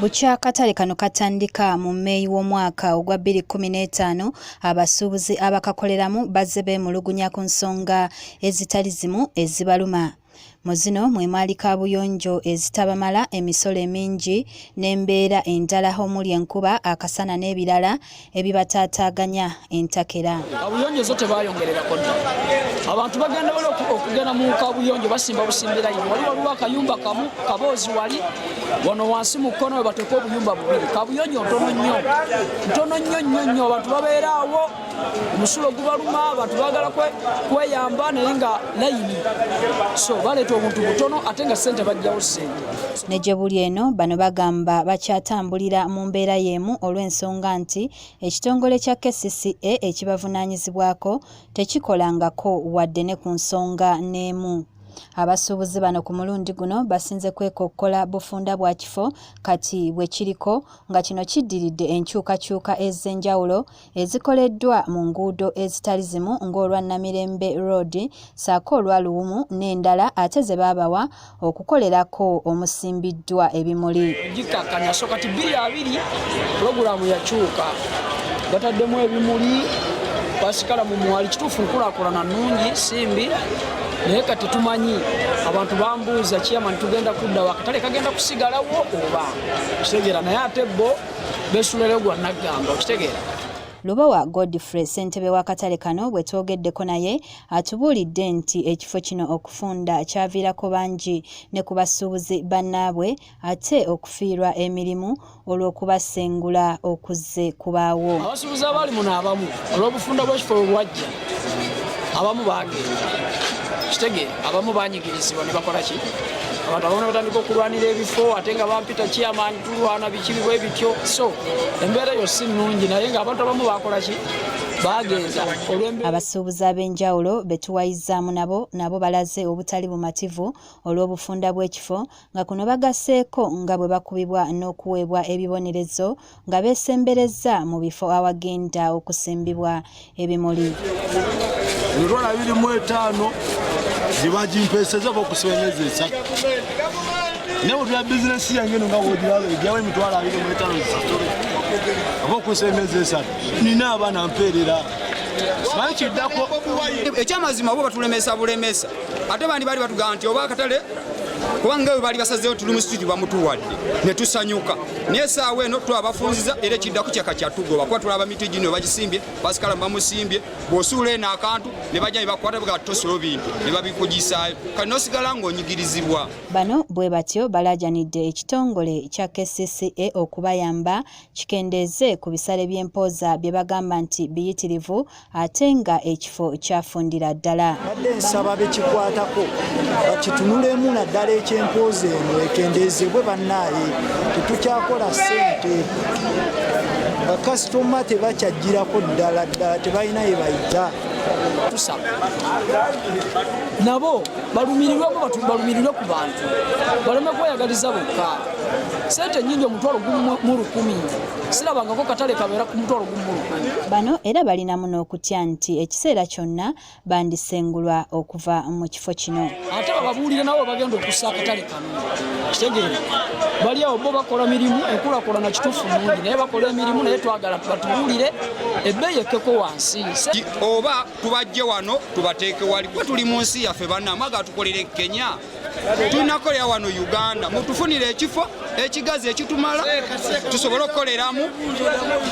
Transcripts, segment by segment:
bukya akatale kano katandika mu meeyi w'omwaka ogwa 2015 abasuubuzi abakakoleramu bazze beemulugunya ku nsonga ezitali zimu ezibaluma mu zino mwe mwali kaabuyonjo ezitabamala emisolo emingi n'embeera endala omuli enkuba akasana n'ebirala ebibataataaganya entakera abuyonjo zo tebayongererako dda abantu bagenda wala okugenda mu kabuyonjo basimba busimbira ino wali waliwo akayumba kamu kaboozi wali wano wansi mu kkono webateeka obuyumba bubiri kabuyonjo ntono nnyo ntono nnyo nnyo nnyo abantu babeeraawo omusulo gubaluma abantu bagala kweyamba naye nga layini so baleeta obuntu butono ate nga sente bajjawo sente Ne gye buli eno, bano bagamba bakyatambulira mu mbeera y'emu olw'ensonga nti ekitongole kya kcca ekibavunaanyizibwako tekikolangako wadde ne ku nsonga n'emu. Abasuubuzi bano ku mulundi guno basinze kwekokkola bufunda bwa kifo kati bwe kiriko nga kino kiddiridde enkyukakyuka ez'enjawulo ezikoleddwa mu nguudo ezitali zimu ng'olwa Namirembe Road ssaako olwa Luwumu n'endala ate ze baabawa okukolerako omusimbiddwa ebimuli. Gikkakkanya so kati bbiri abiri pulogulaamu yakyuka bataddemu ebimuli basikala mu mwali kituufu nkulakulana nnungi simbi naye kati tumanyi abantu bambuuza kiyamani tugenda kuddawo akatale kagenda kusigalawo oba kitegera naye ate bo besulero gwa naggamba okitegeera Lubowa Godfrey ssentebe w'akatale kano bwe twogeddeko naye atubuulidde nti ekifo kino okufunda kyaviirako bangi ne ku basuubuzi bannaabwe ate okufiirwa emirimu olw'okubasengula okuzze kubaawo. Abasuubuzi abali muno abamu olw'obufunda bw'ekifo bwe bwajja abamu bagenda kitege abamu banyigirizibwa ne bakola ki abantu abamu batandika okulwanira ebifo ate nga bampita kiyamani tulwana bikibibwa ebityo so embeera yo si nnungi naye nga abantu abamu bakola ki bagenda abasuubuzi ab'enjawulo betuwayizzaamu nabo nabo balaze obutali bumativu olw'obufunda bw'ekifo nga kuno bagasseeko nga bwe bakubibwa n'okuweebwa ebibonerezo nga beesemberezza mu bifo awagenda okusimbibwa ebimuli emitwalo abiri mu etaano gye bagimpeeseza oba okusiba emyezi esatu naye bwetula bizinesi yange eno nga wogiraba egyawo emitwalo abiri mu etaano zisasule oba okusiba emyezi esatu nina abaana mpeerera simanyi kiddako ekyamazima oba batulemesa bulemesa ate bandi baali batugamba nti oba akatale kubanga bwe baali basazeewo tuli mu situdi bamutuwadde ne tusanyuka naye esaawa eno twa abafunziza era ekiddako kyaka kyatugoba kuba tulaba miti gino bagisimbye basikala bamusimbye bwosuula eno akantu ne bajja nebakwata bga tosula obintu ne babikugisaayo kati nosigala ng'onyigirizibwa bano bwe batyo balajanidde ekitongole kya kcca okubayamba kikendeeze ku bisale by'empooza bye bagamba nti biyitirivu ate nga ekifo kyafundira ddala badde nsaba bekikwatako bakitunulemu naddala ekyempoozi eno ekendeezebwe bannaaye tetukyakola ssente bakasitoma tebakyajjirako ddala ddala tebalina ye bayita tusaba nabo balumirirwemu balumirirwe ku bantu baleme kweyagaliza bokka sente nyingi omutwalo gumu mu lukumi silabangako katale kabeera ku mutwalo gumulu bano era balinamu n'okutya nti ekiseera kyonna bandisengulwa okuva mu kifo kino ate bababuulire nabo bagenda okussa akatale kano kitegeere bali awo bo bakola mirimu enkulakulana kituufu mungi naye bakola emirimu naye twagala batubuulire ebbeeyi ekkeko wansi oba tubajje wano tubateeke wali kuba tuli mu nsi yaffe banna mwaga tukolere kenya tunakolera wano uganda mutufunire ekifo ekigazi ekitumala tusobole okukoleramu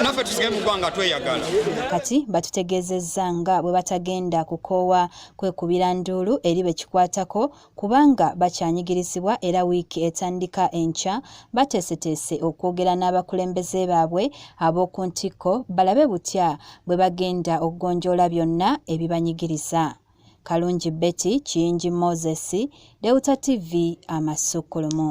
naffe tusige mu ggwanga tweyagala kati batutegeezezza nga bwe batagenda kukoowa kwekubira nduulu eri be kikwatako kubanga bakyanyigirizibwa era wiiki etandika enkya bateeseteese okwogera n'abakulembeze baabwe ab'oku ntikko balabe butya bwe bagenda okugonjoola byonna ebibanyigiriza Kalungi Betty, Kiyingi Moses, Deuta TV, Amasukkulumu.